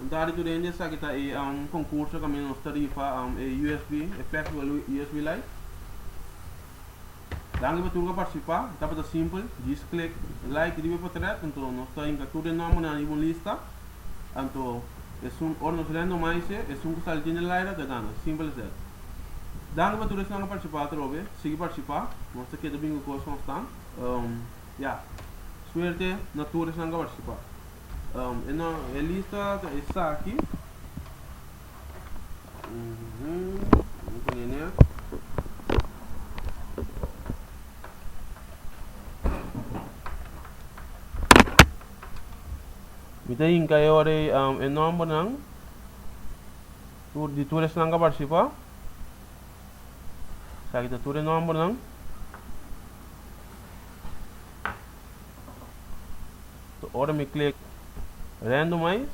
Un tarde tur hende sa ki ta e um, concurso caminda nos ta rifa um, e USB, e flexible USB light. Danki pa tur ca participa, tabata simpel, just click like riba e portret, anto nos ta hinca tur e nombernan riba un lista, anto esun ora nos randomai ese, esun cu sali djinter di laira ta gana, simpel as dat. Danki pa tur esnan cu participa atrobe, sigui participa, nos ta keda bingo cos constant. Um, Ya. Suerte na tur esnan ku a partisipá. E lista ta esaki. Bo pone ne. Mi ta hinka e ora ei e nòmbernan di tur esnan ku a partisipá. Sa aki ta tur e nòmbernan. So ora mi klik randomize,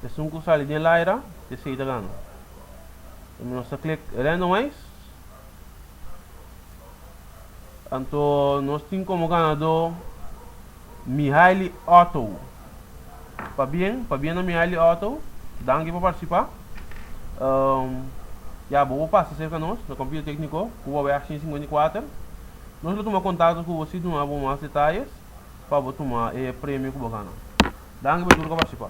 esun ku sali den Lyra, e sa ta gana. Mi nos ta klik randomize. Anto nos tin komo ganadó Mihaili Otto. Pabien, pabien na Mihaili Otto. Danki pa participa. Um, ya, bo bo pasa cerca nos, na Computer Técnico, Cuba Weg 154. Nos lo tuma contacto cu bo si duna bo mas detalles pa bo tuma e premio cu bo gana. Danki pa tur cu a participa.